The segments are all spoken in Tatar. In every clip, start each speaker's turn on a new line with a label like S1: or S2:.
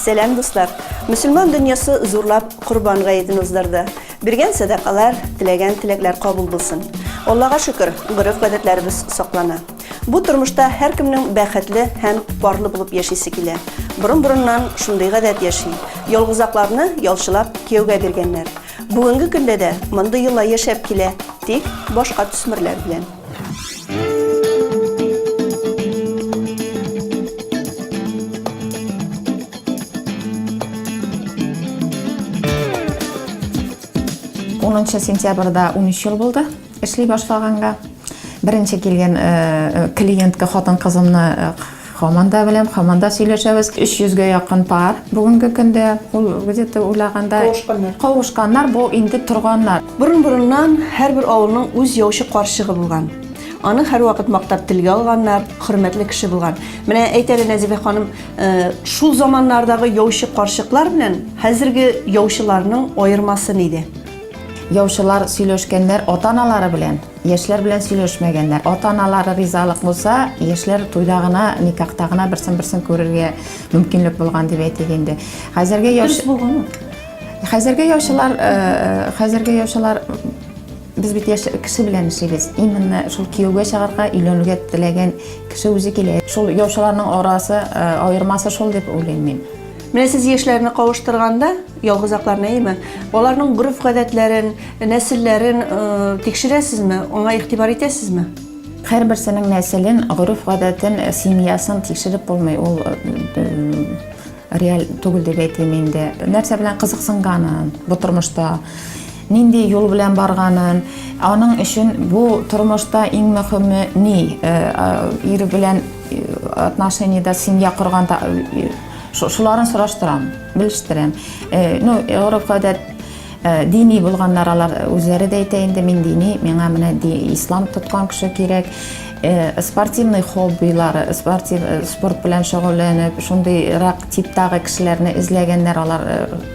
S1: Сәлам дуслар! Мөселман дөньясы зурлап Корбан гаетен уздырды. Биргән сәдакалар, теләгән теләкләр кабул булсын. Аллага шөкер, гореф-гадәтләребез саклана. Бу тормышта һәркемнең бәхетле һәм парлы булып яшисе килә. Борын-борыннан шундый гадәт яши. Ялгызакларны ялчылап кияүгә биргәннәр. Бүгенге көндә дә мондый йола яшәп килә, тик башка төсмерләр белән.
S2: Унынчы сентябрьдә унөч ел булды. Эшли башлаганга беренче килгән клиентка хатын кызымны һаман да беләм, һаман да сөйләшәбез. 300 гә якын пар бүгенге көндә, ул где-то уйлаганда. Кавышканнар. Кавышканнар, бу инде торганнар. Борын-борыннан
S1: һәрбер авылның үз яучы карчыгы булган. Аны һәрвакыт мактап телгә алганнар, хөрмәтле кеше булган. Менә әйт әле, Нәзифә ханым, шул заманнардагы яучы карчыклар белән хәзерге яучыларның аермасы нидә? Яучылар
S2: сөйләшкәннәр ата-аналары белән, яшьләр белән сөйләшмәгәннәр. Ата-аналары ризалык булса, яшьләр туйда гына, никахта гына берсен-берсен күрергә мөмкинлек булган дип әйтик инде. Хәзергә яш... Хәзергә яучылар, э, э, хәзергә яучылар без бит яшь кеше белән эшлибез. Именно шул кияүгә чыгарга, өйләнергә теләгән кеше үзе килә. Шул яучыларның арасы, э, аермасы шул дип уйлыйм мин. Менә сез яшьләрне
S1: кавыштырганда, ялгызакларны әйеме, аларның гореф-гадәтләрен, нәселләрен э, тикшерәсезме, аңа игътибар итәсезме? Һәрберсенең
S2: нәселен, гореф-гадәтен, э, семьясын тикшереп булмый. Ул э, реаль түгел дип әйтим инде. Нәрсә белән кызыксынганын бу тормышта, нинди юл белән барганын, аның өчен бу тормышта иң мөһиме ни? Ир белән отношениедә семья корганда Шуларын сораштырам, белештерәм. Э, ну, гореф-гадәт э, дини булганнар алар үзләре дә әйтә инде, мин дини, миңа менә ислам тоткан кеше кирәк. Э, спортивный хоббилары, спортив спорт белән шөгыльләнеп, шундыйрак типтагы кешеләрне эзләгәннәр, алар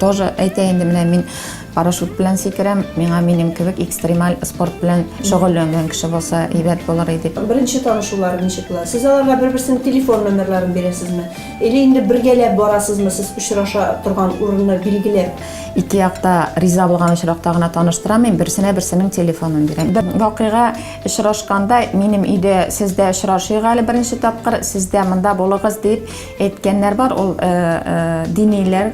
S2: тоже әйтә инде, менә мин Парашют белән сикерәм. Миңа минем кебек экстремаль спорт белән шөгыльләнгән кеше булса әйбәт булыр иде. Беренче танышулар
S1: ничек була? Сез аларга бер-берсенең телефон номерларын бирәсезме? Или инде бергәләп барасызмы, сез очраша торган урынны билгеләп? Ике якта
S2: риза булган очракта гына таныштырам мин, берсенә берсенең телефонын бирәм. Бер вакыйга очрашканда, минем өйдә сездә очрашыйк әле беренче тапкыр, сездә монда булыгыз дип әйткәннәр бар, ул диниләр.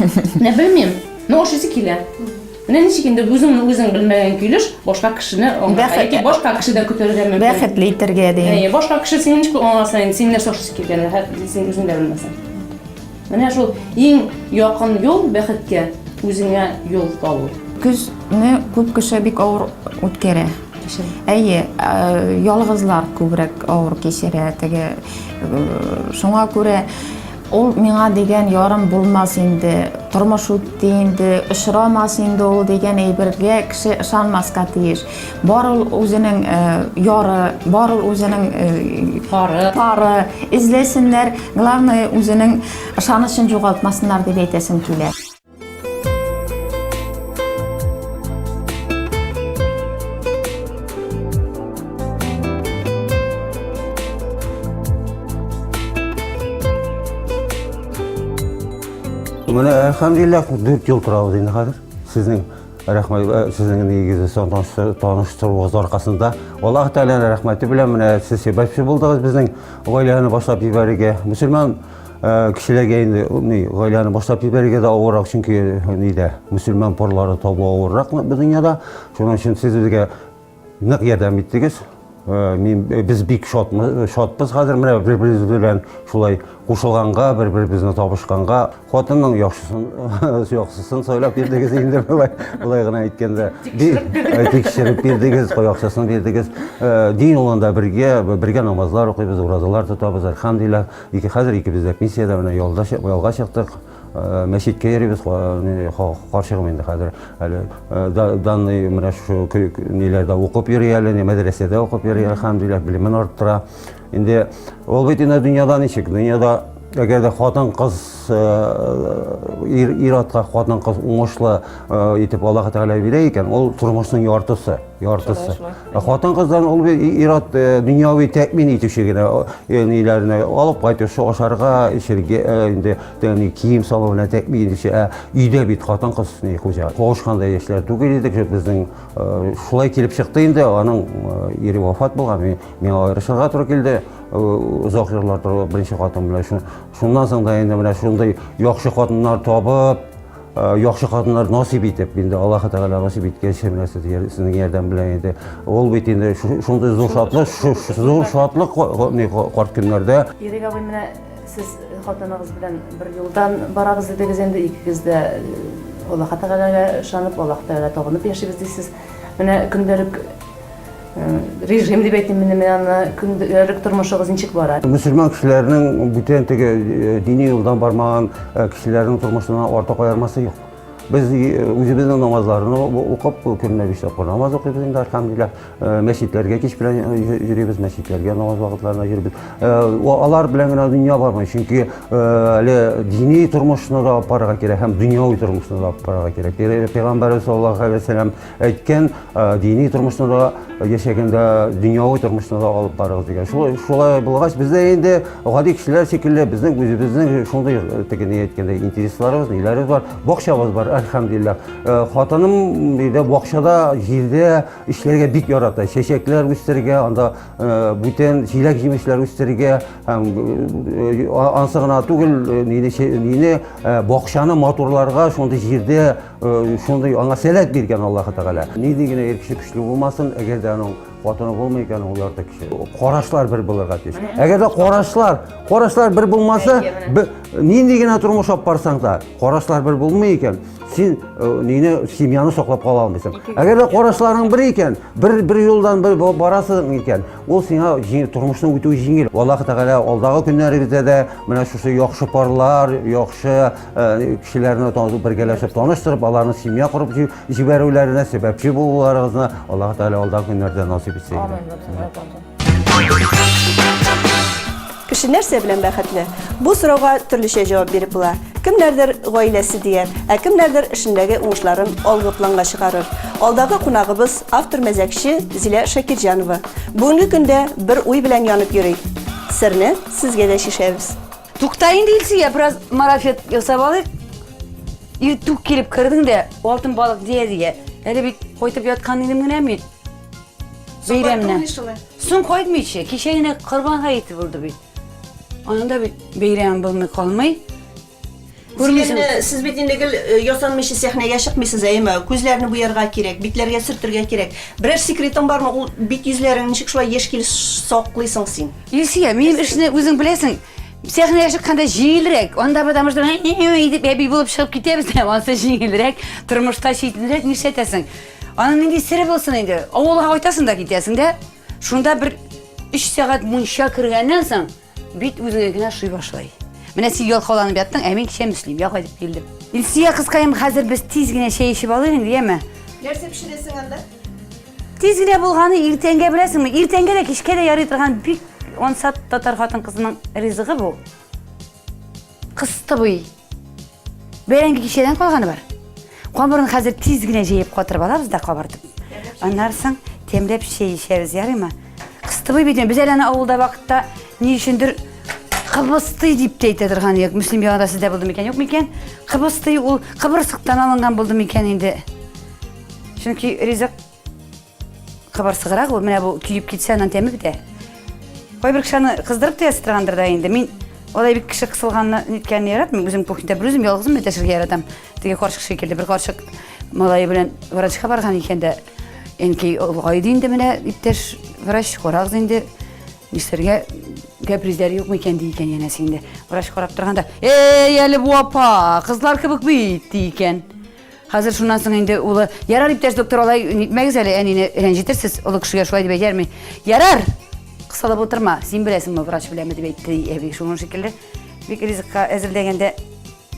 S3: Менә белмим. Ну, ашыйсы килә. Менә ничек инде үзеңне үзең белмәгән килеш башка кешене аңларга яки башка кешедән көтәргә мөмкин. Бәхетле итәргә ди. Әйе,
S2: башка кеше сине ничек
S3: аңласа инде, син нәрсә ашыйсы килгәнен, хәт син үзең дә белмәсәң. Менә шул иң якын юл бәхеткә үзеңә юл табу. Көзне
S2: күп кеше бик авыр үткәрә. Әйе, ялгызлар күбрәк авыр кичерә. Теге шуңа күрә Ул миңа дигән ярым булмас инде, тормыш үтте инде, очрамас инде ул дигән әйбергә кеше ышанмаска тиеш. Бар ул үзенең э, яры, бар ул үзенең э, пары. пары. Эзләсеннәр, главное үзенең ышанычын югалтмасыннар дип әйтәсем килә.
S4: Менә әлхәмдулиллах 4 ел торабыз инде хәзер. Сезнең рәхмәт э, сезнең нигезе таныштыруыгыз аркасында. Аллаһ Тәгаләнең рәхмәте белән менә сез сәбәпче булдыгыз безнең гаиләне башлап җибәрергә. Мөселман Э, кешеләргә инде ни гаиләне башлап җибәрергә дә авыррак чөнки э, нидә мөселман парлары табу авыррак бу дөньяда шуның өчен сез безгә нык ярдәм иттегез э, мин без бик шатмы шатбыз хәзер менә бер беребез белән шулай кушылганга бер беребезне табышканга хатынның яхшысын яхшысын сайлап бирдегез инде болай болай гына әйткәндә тикшереп бирдегез яхшысын бирдегез дин юлында бергә бергә намазлар укыйбыз уразалар тотабыз әлхәмдулилла Ике хәзер икебез дә пенсиядә менә ялда ялга чыктык. Э, мәчеткә йөрибез, карчыгым инде хәзер әле э, данный менә шушы ниләрдә укып йөри әле, мәдрәсәдә укып йөри, әлхәмдулилла, белемен арттыра. Инде ул бит инде дөньяда ничек? Дөньяда әгәр дә хатын кыз э, ир ир атка хатын кыз уңышлы итеп Аллаһ Тәгалә бирә икән, ул тормышның яртысы. Яртысы. Ә хатын-кызларның ул бит ират э, дөньяви тәэмин итүче генә э, ниләрне алып кайтучы ашарга, эчергә э, инде тәни кием салу белән тәэмин итүче. Ә өйдә бит хатын-кыз ни хуҗа. Кошканда яшьләр түгел идек, безнең шулай килеп чыкты инде, аның ире вафат булган, миңа аерышырга туры килде. Озак еллар беренче хатын белән шуннан соң да инде менә шундый яхшы хатыннар табып, яхшы хатыннар насип итеп инде аллаһы тәгалә насип иткәч менә сез сезнең ярдәм белән инде ул бит инде шундый зур шатлык зур шатлык карт көннәрдә ирек абый менә
S3: сез хатыныгыз белән бер юлдан барабыз дидегез инде икегез дә аллаһы тәгаләгә ышанып аллаһы тәгалә табынып яшибез дисез менә көндәлек режим дип әйтим менә аны көндәлек тормышыгыз ничек бара мөселман кешеләренең
S4: бүтән теге э, дини юлдан бармаган э, кешеләрнең тормышына артык аермасы юк без э, үзебезнең намазларны укып көненә биш тапкыр намаз укыйбыз инде альхамдулилля мәчетләргә кич белән йөрибез мәчетләргә намаз вакытларына йөрибез алар белән генә дөнья бармый чөнки әле дини тормышны да алып барырга кирәк һәм дөньяви тормышны да алып барырга кирәк пәйгамбәребез саллаллаху алейхи вәсәләм Әйткән, дини тормышны да яшәгәндә дөньяви тормышны да алып барыгыз дигән. Шулай шулай булгач, бездә инде гади кешеләр шикелле безнең үзебезнең шундый теге ни әйткәндә интересларыбыз, ниләребез бар, бакчабыз бар, әлхәмдулилла. Хатыным биде бакчада, җирдә эшләргә бик ярата. Чәчәкләр үстерергә, анда бүтән җиләк-җимешләр үстерергә һәм ансы гына түгел, нине бакчаны матурларга, шундый җирдә Шундый аңа сәләт биргән Аллаһы Тәгалә. Нинди генә ир кеше көчле булмасын, әгәр дә аның хатыны булмый икән, ул ярты кеше. Карашлар бер булырга тиеш. Әгәр дә карашлар, карашлар бер булмаса, нинди генә тормыш алып барсаң да, карашлар бер булмый икән, син нине семьяны саклап кала алмыйсың. Әгәр дә карашларың бер икән, бер бер юлдан бер барасың икән, ул сиңа тормышны үтү җиңел. Аллаһы Тәгалә алдагы көннәребездә дә менә шушы яхшы парлар, яхшы кешеләрне танытып бергәләшеп таныштырып аларны семья корып җибәрүләренә сәбәпче булуларыгызны аллаһ тәгалә алдагы көннәрдә насыйп итсә
S1: кеше нәрсә белән бәхетле бу сорауга төрлечә җавап биреп була кемнәрдер гаиләсе дияр ә кемнәрдер эшендәге уңышларын алгы планга чыгарыр алдагы кунагыбыз автор мәзәкче зилә шакирҗанова бүгенге көндә бер уй белән янып йөри серне сезгә дә чишәбез Тукта инде,
S5: Илсөя, бераз марафет ясап алыйк. Иртүк килеп кердең дә, алтын балык дия-дия. Әле бит кайтып яткан идем генә мин. Бәйрәмнән. Соң кайтмыйчы, кичә генә Корбан гаете булды бит. Аның да бит бәйрәме булмый калмый. Күрмисең.
S1: Сез бит инде гел ясанмыйча сәхнәгә чыкмыйсыз, әйеме? Күзләрне буярга кирәк, битләргә сөртергә кирәк. Берәр секретың бармы? Ул бит-йөзләрең ничек шулай яшь килеш саклыйсың син? Илсөя, минем эшне
S5: үзең беләсең. Сәхнәгә чыкканда җиңелрәк. Анда потому что әй-әй-әй дип әби булып чыгып китәбез, анысы җиңелрәк, тормышта читенрәк, нишләтәсең. Аның нинди сере булсын инде? Авылга кайтасың да китәсең дә, шунда бер өч сәгать мунча кергәннән соң, Бит үзеңә генә шуй башлай. Менә син ялкауланып яттың, ә мин кичә мөслим яу кайтып килдем. Илсия кызкаем, хәзер без тиз генә чәй эчеп алыйк инде, яме? Нәрсә пешерәсең
S1: анда? Тиз
S5: генә булганы иртәнгә беләсеңме? Иртәнгә дә кичкә дә ярый торган бик ансат татар хатын-кызының ризыгы бу. Кыстыбый, Бәрәңге кичәдән калганы бар. Камырын хәзер тиз генә җыеп катырып алабыз да кабартып. Аннан соң тәмләп чәй эчәбез, ярыймы? Кыстыбый бит, без әле аны авылда вакытта ни өчендер кыбыстый дип тә әйтә торган идек. Мөслим ягында сездә булды микән, юк микән? Кыбыстый ул кыбырсыктан алынган булды микән инде? Чөнки ризык Кабарсыграк ул, менә бу көеп китсә, аннан тәме бетә. Кайбер кеше аны кыздырып та ясый торгандыр да инде. Мин алай бик кеше кысылганны ниткәнне яратмыйм. Үзем кухняда берүзем ялгызым да яшәргә яратам. Теге карчык шикелле бер карчык малае белән врачка барган икән дә, әнкәй олыгайды инде менә иптәш врач, карагыз инде, нишләргә кәпризләре юкмы икән ди икән янәсе инде. Врач карап торганда, "Эй, әле бу апа, кызлар кебек бит", ди икән. Хәзер шуннан соң инде улы, ярар, иптәш доктор, алай нитмәгез әле, әнине рәнҗетерсез, олы кешегә шулай дип әйтәрме? Ярар! Кысылып утырма, син беләсеңме, врач беләме, дип әйтте, ди әби, шуның шикелле. Бик ризыкка әзерләгәндә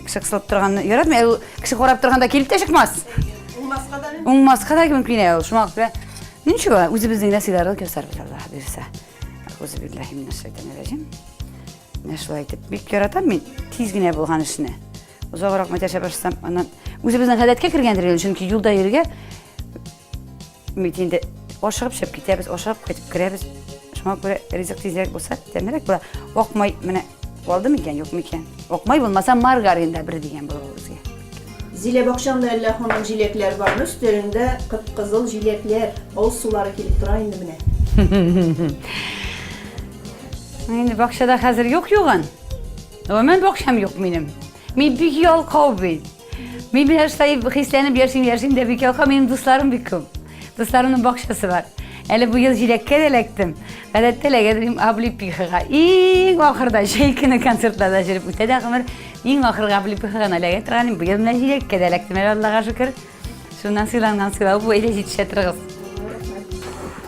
S5: кеше кысылып торганны яратмый, ә ул кеше карап торганда килеп тә чыкмас. Уңмаска да мөмкин. Уңмаска да мөмкин ә ул, шуңа күрә. Ничего, үзебезнең дә сыйларны Кәүсәр белән Аллаһ бирсә. Әгъүзү биллаһи минәш шайтанир раҗим. Менә шулай итеп, бик яратам мин тиз генә булган эшне. Озаграк мәтәшә башласам, аннан үзебезнең гадәткә кергәндер инде, чөнки юлда йөргә бит инде ашыгып чыгып китәбез, ашыгып кайтып керәбез. Шуңа күрә ризык тизрәк булса, тәмлерәк була. Акмай менә алдым икән, юкмы икән? Акмай булмаса маргарин да бер дигән булыр үзгә. Зилә
S1: бакчаңда әллә һаман җиләкләр бармы? Өстәлеңдә кып-кызыл җиләкләр, авыз сулары килеп тора инде менә.
S5: Инде бакчада хәзер юк югын. Гомумән бакчам юк минем. Мин бик ялкау бит. Мин менә шулай хисләнеп яшим, яшим дә бик ялкау. Минем дусларым бик күп. Дусларымның бакчасы бар. Әле бу ел җиләккә дә эләктем. Гадәттә эләгәдем облепихага. Иң ахырда җәй көне концертларда җөреп үтә дә гомер. Иң ахырга облепихага эләгә торган. Быел менә җиләккә дә эләктем, Аллага шөкер. Шуннан сыйланган сыйлау бу әйдә җитешә торыгыз.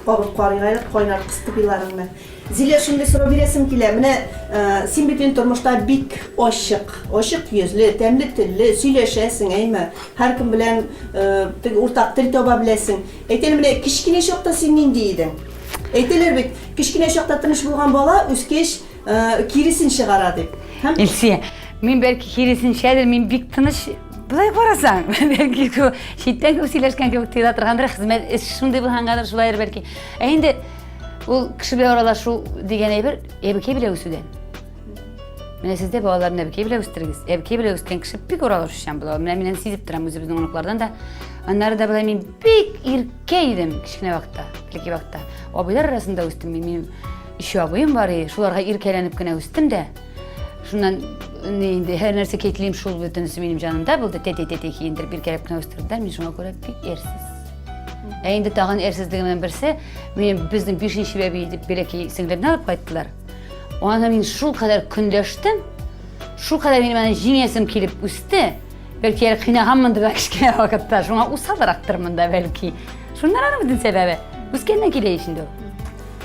S1: Кабып карыйк әле кайнар кыз тупиларыңны. Зилә шундый сорау бирәсем килә. Менә э, син бит инде тормышта бик ачык, ачык йөзле, тәмле телле, сөйләшәсең, әйме? Һәркем белән э, теге уртак тел таба беләсең. Әйтәле менә кечкенә чакта син нинди идең? Әйтәләр бит, кечкенә чакта тыныч булган бала үскәч э, киресен чыгара дип. Һәм Илсия, мин
S5: бәлки киресенчәдер, мин бик тыныч Былай карасаң, бәлки читтән күп сөйләшкән кебек тоела торган бер хезмәт эш шундый булгангадыр, шулайдыр бәлки. Ә инде ул кеше белән аралашу дигән әйбер әбекәй белән үсүдән. Менә сездә балаларны әбекәй белән үстерегез. Әбекәй белән үскән кеше бик аралашучан була. Менә мин сизеп торам үзебезнең оныклардан да. Аннары да былай мин бик иркә идем кечкенә вакытта, бәлки вакытта. Абыйлар арасында үстем мин. Минем өч абыем бар и, шуларга иркәләнеп кенә үстем дә. Шуннан не инде һәр нәрсә кәйтлим шул бөтенесе минем җанымда булды. Тәтә тәтә хиендер бер кәрәп кенә үстерделәр, мин шуңа күрә бик эрсез. Ә инде тагын эрсезлегемнән берсе, мин безнең бишенче бәби дип бәләкәй сеңлемне алып кайттылар. Аны мин шул кадәр көндәштем, шул кадәр минем аны җиңәсем килеп үсте. Бәлки әле кыйнаганмын да кечкенә вакытта, шуңа усалрактырмын да бәлки. Шуннан аны бөтен сәбәбе. Үскәннән килә ич инде ул.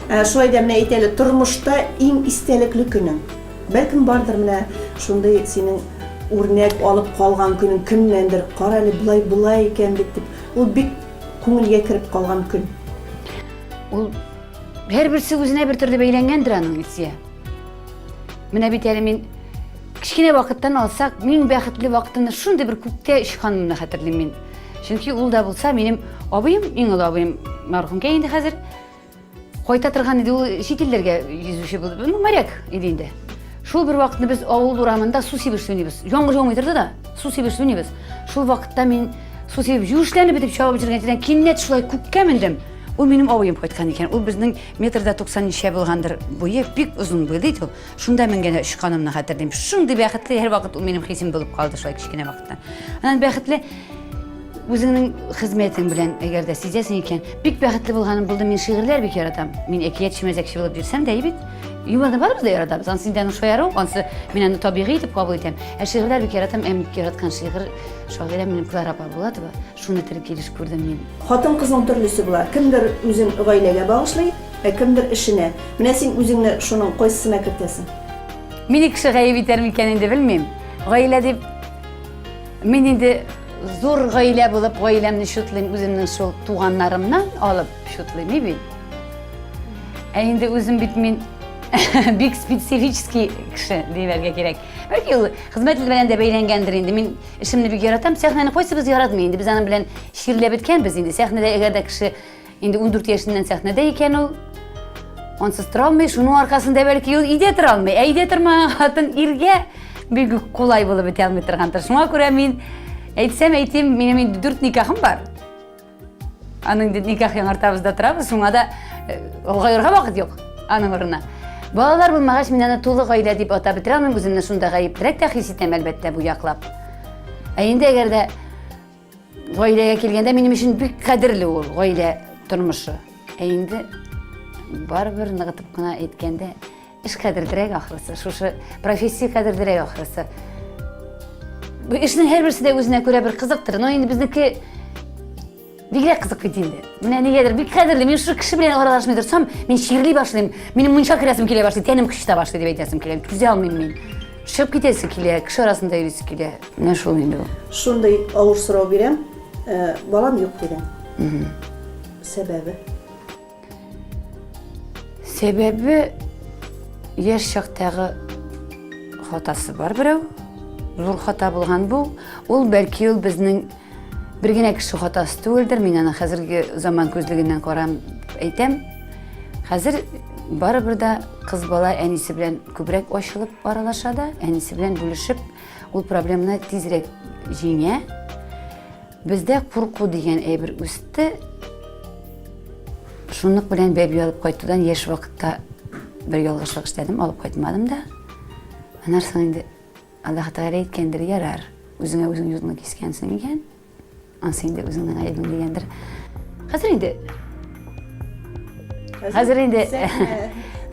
S5: Ә шулай
S1: да менә әйт әле, тормышта иң истәлекле көнең? Бәлкем бардыр менә шундый синең үрнәк алып калган көнең кемнәндер, кара әле болай болай икән бит дип, ул бик күңелгә кереп калган көн.
S5: Ул һәрберсе үзенә бер төрле бәйләнгәндер аның, Илсия. Менә бит әле мин кечкенә вакыттан алсак, мин бәхетле вакытымны шундый бер күктә очканымны хәтерлим мин. Чөнки ул да булса минем абыем, иң олы абыем, мәрхүмкә инде хәзер, Кайта торган иде ул чит илләргә йөзүче булып, ну, моряк иде инде. Шул бер вакытны без авыл урамында су сибеш сүнибез. Яңгыр яумый торды да, су сибеш сүнибез. Шул вакытта мин су сибеп юешләнеп бетеп чабып җөргән җирдән кинәт шулай күккә мендем. Ул минем авыем кайткан икән. Ул безнең метрда 90 ничә булгандыр буе, бик озын буйлы иде ул. Шунда мин генә очканымны хәтерлим. Шундый бәхетле һәр вакыт ул минем хисем булып калды шулай кечкенә вакыттан. Анан бәхетле Үзеңнең хезмәтең белән, әгәр дә сизәсең икән, бик бәхетле булганым булды. Мин шигырьләр бик яратам. Мин әкиятче, мәзәкче булып йөрсәм дә, әйбит. Юморны барыбыз да яратабыз. Ансы инде шаяру, ансы мин аны табигый итеп кабул итәм. Ә шигырьләр бик яратам. Әм бик яраткан шигырь шагыйрә минем Клара апа Булатова. Шуны теле килеш күрдем мин. Хатын-кызның төрлесе
S1: була. Кемдер үзен гаиләгә багышлый, ә кемдер эшенә. Менә син үзеңне шуның кайсысына кертәсең? Мине кеше
S5: гаеп итәр микән инде, белмим. Гаилә дип Мин инде зур гаилә булып гаиләмне шутлыйм, үземнең шул туганнарымнан алып шутлыйм, ни бит. Ә инде үзем бит мин бик специфический кеше диләргә кирәк. Бәлки ул хезмәт белән дә бәйләнгәндер инде. Мин эшемне бик яратам. Сәхнәне кайсыбыз яратмый инде? Без аның белән чирләп беткәнбез инде. Сәхнәдә әгәр дә кеше Инде ундүрт яшеннән сәхнәдә икән ул. Ансыз тора алмый, шуның аркасында бәлки ул өйдә тора алмый. Ә өйдә тормаган хатын иргә бик үк кулай булып бетә алмый торгандыр. Шуңа күрә мин әйтсәм әйтим, минем инде дүрт никахым бар. Аның никах яңартабыз да торабыз, шуңа да э, олгаерга вакыт юк аның урынына. Балалар булмагач, мин аны тулы гаилә дип атап бетерә алмыйм, үземне шунда гаеплерәк тә хис итәм, әлбәттә, бу яклап. Ә инде әгәр дә Гаиләгә килгәндә минем өчен бик кадерле ул гаилә тормышы. Ә инде барыбер ныгытып кына әйткәндә, эш кадерлерәк ахрысы, шушы профессия кадерлерәк ахрысы. Бу эшнең һәрберсе дә үзенә күрә бер кызыктыр, но инде безнеке бигрәк кызык бит инде. Менә нигәдер бик кадерле, мин шушы кеше белән аралашмый торсам, мин чирли башлыйм, минем мунча керәсем килә башлый, тәнем кычыта башлый дип әйтәсем килә, түзә алмыйм мин. Чыгып китәсе килә, кеше арасында йөрисе килә. Менә шул инде ул. Шундый авыр
S1: сорау бирәм. Э, балам юк дидең. Сәбәбе?
S5: Сәбәбе яшь чактагы хатасы бар берәү. Зур хата булган бу. Ул бәлки ул безнең Бер генә кеше хатасы түгелдер, мин аны хәзерге заман күзлегеннән карам әйтәм. Хәзер барыбер дә кыз бала әнисе белән күбрәк ачылып аралаша да, әнисе белән бүлешеп, ул проблеманы тизрәк җиңә. Бездә курку дигән әйбер үсте. Шунлык белән бәби алып кайтудан яшь вакытта бер ялгышлык эшләдем, алып кайтмадым да. Аннан соң инде Аллаһ Тәгалә әйткәндер, ярар, үзеңә үзең юлны кискәнсең икән, ансы инде үзеңнең гаебең дигәндер. Хәзер инде Хәзер инде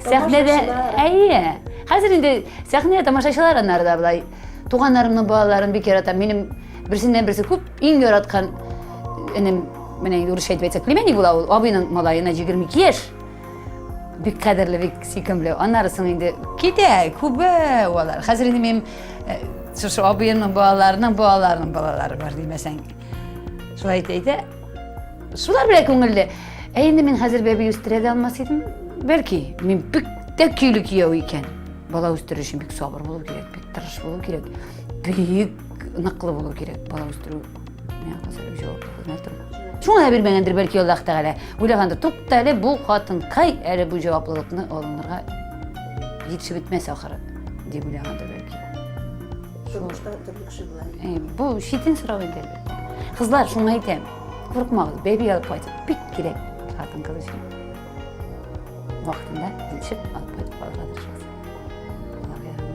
S5: сәхнәдә әйе. Хәзер инде сәхнә тамашачылар аннары да былай туганнарымның балаларын бик яратам. Минем берсеннән берсе күп иң яраткан энем менә инде урысча әйтеп әйтсәк племянник була ул абыйның малае на 22 яшь бик кадерле бик сөйкемле аннары соң инде китә күбе алар хәзер инде минем э, шушы абыемның балаларының балаларының балалары бар димәсәң шулай итә итә шулар белән күңелле ә инде мин хәзер бәби үстерә дә алмас идем бәлки мин бик тә көйле кияү икән бала үстерү өчен бик сабыр булу кирәк бик тырыш булу кирәк бик ныклы булу кирәк бала үстерү Шуңа да бирмәгәндер бәлки Аллаһ Тәгалә. Уйлагандыр, тукта әле бу хатын кай әле бу җаваплылыкны алынырга җитешеп бетмәс ахыры дип уйлагандыр бәлки. Тормышта төрле кеше була. Э, бу читен сорау инде. Кызлар, шуңа әйтәм, курыкмагыз, бәби алып кайтып бик кирәк хатын кыз өчен. Вакытында җитешеп алып кайтып калырга тырышыгыз. Аллаһ ярдәм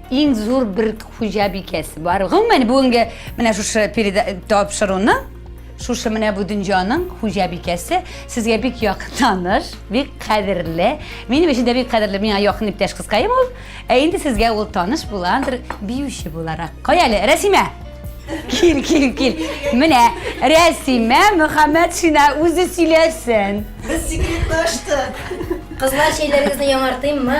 S5: Иң зур бер хуҗабикәсе бар. Гомумән бүгенге менә шушы тапшыруның шушы менә бу дөньяның хуҗабикәсе сезгә бик якын таныш, бик кадерле. Минем өчен дә бик кадерле, миңа якын иптәш кызкаем ул. Ә инде сезгә ул таныш булгандыр биюче буларак. Кая әле, Рәсимә? Кил, кил, кил. Менә Рәсимә Мөхәммәтшина үзе сөйләсен. Без секретны
S1: ачтык. Кызлар,
S6: чәйләрегезне яңартыйммы?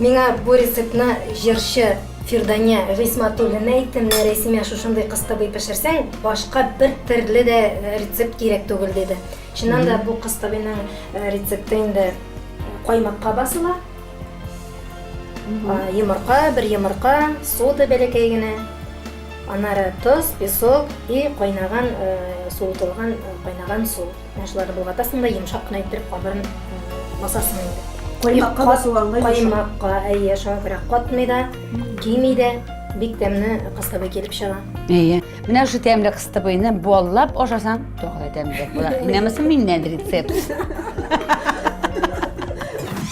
S6: Миңа бу рецептны җырчы Фирдания Гыйсматуллина әйтте, менә Рәйсимә шушындый кыстыбый пешерсәң, башка бер терле дә э, рецепт кирәк түгел диде. Чыннан да бу кыстыбыйның э, рецепты инде каймакка басыла. Йомырка, бер йомырка, сода бәләкәй генә. Анары тоз, песок и кайнаган э, суытылган кайнаган су. Начарлары болгатасың да йомшак кына иттереп кабырын басасың инде. Каймакка да суганга
S1: Каймакка, әйе,
S6: шуңа күрә катмый да, кими дә, бик тәмле кыстыбый килеп чыга. Әйе. Менә шушы
S5: тәмле кыстыбыйны буаллап ашасаң, тагы да тәмлерәк була. Инәмәсәң миннән рецепт.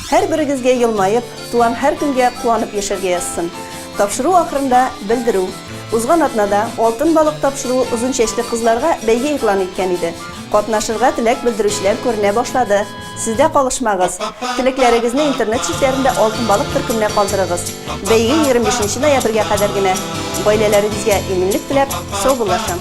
S1: Һәр берегезгә елмаеп, туган һәр көнгә куанып яшәргә язсын. Тапшыру ахырында белдерү. Узган атнада Алтын балык тапшыруы озын чәчле кызларга бәйге игълан иткән иде. Катнашырга теләк белдерүчеләр күренә башлады. Сез дә калышмагыз! Теләкләрегезне интернет челтәрендә Алтын балык төркеменә калдырыгыз. Бәйге егерме бишенче ноябрьгә кадәр генә. Гаиләләрегезгә иминлек теләп, саубуллашам!